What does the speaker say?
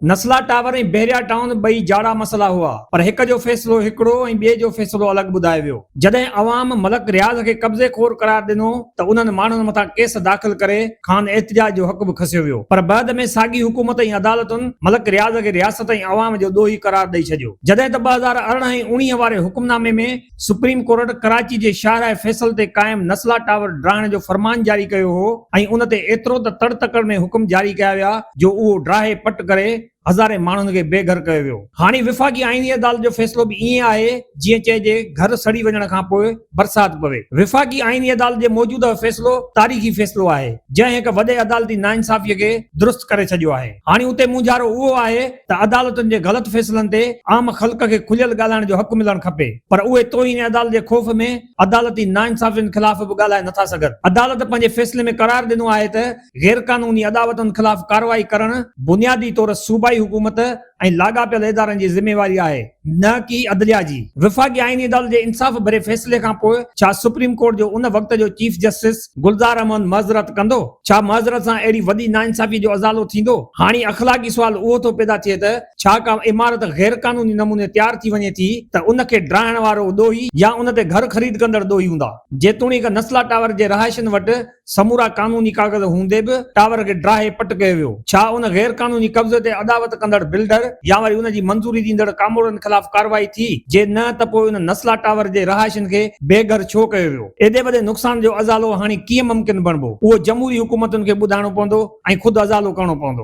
نسلا tower ۽ Bahria town ٻئي جاڙا مسئلا هئا پر هڪ جو فيصلو هڪڙو ۽ ٻئي جو فيصلو الڳ ٻڌايو ويو. جڏهن عوام ملڪ رياض کي قبضي خور قرار ڏنو ته انهن ماڻهن مٿان ڪيس داخل ڪري کان احتجاج جو حق به کسيو ويو پر بعد ۾ ساڳي حڪومت ۽ عدالتن ملڪ رياض کي رياست ۽ عوام جو ڏوهي قرار ڏئي ڇڏيو جڏهن ته ٻه هزار ارڙهن ۽ اوڻيهه واري حڪم نامي ۾ سپريم ڪورٽ ڪراچي جي شاهراهه فيصل تي قائم نسلا ٽاور ڊاهڻ جو فرمان جاري ڪيو هو ۽ ان تي ايترو ته تڙ تڪڙ ۾ حڪم جاري ڪيا ويا جو اهو ڊاهي پٽ ڪري هزارين ماڻهن کي بي گهر ڪيو ويو. هاڻي وفاقي آئيني عدالت جو فيصلو به ائين آهي جيئن چئجي گهر سڙي وڃڻ کان پوء برسات پوي. وفاقي آئيني عدالت جي موجوده فيصلو تاريخي فيصلو آهي جنهن هڪ وڏي عدالتي ناانصافي کي درست ڪري ڇڏيو آهي. هاڻي اتي مونجهارو اهو آهي ته عدالتن جي غلط فيصلن تي عام خلق کي کليل ڳالهائڻ جو حق ملڻ کپي پر اهي توهين عدالت جي خوف ۾ عدالتي ناانصافين خلاف به ڳالهائي نٿا سگهن. عدالت پنهنجي فيصلي ۾ قرار ڏنو آهي ته غيرقانوني اڏاوتن خلاف ڪارروائي ڪرڻ بنيادي طور صوبائي حڪومت ۽ لاڳاپيل ادارن جي ذميواري آهي نه ڪي عدليا جي. وفاقي آئيني عدالت جي انصاف ڀري فيصلي کانپوء ڇا سپريم ڪورٽ جو ان وقت جو چيف جسٽس، گلزار احمد، معذرت ڪندو؟ ڇا معذرت سان اهڙي وڏي ناانصافي جو ازالو ٿيندو؟ هاڻي اخلاقي سوال اهو ٿو پيدا ٿئي ته ڇا ڪا عمارت غير قانوني نموني تيار ٿي وڃي ٿي ته ان کي ڊاهڻ وارو ڏوهي يا ان تي گهر خريد ڪندڙ ڏوهي هوندا؟ جيتوڻيڪ نسلا ٽاور جي رهائشين وٽ سمورا قانوني ڪاغذ هوندي به ٽاور کي ڊاهي پٽ ڪيو ويو، ڇا ان غير قانوني قبضي تي اڏاوت ڪندڙ بلڊر يا وري ان جي منظوري ڏيندڙ ڪامورن خلاف ڪارروائي ٿي؟ جي نه ته پوء ان نسلا ٽاور جي رهائشين کي بي گهر ڇو ڪيو ويو؟ ايڏي وڏي نقصان جو ازالو هاڻي ڪيئن ممڪن بڻبو؟ اهو جمهوري حڪومتن کي ٻڌائڻو پوندو ۽ خود ازالو ڪرڻو پوندو.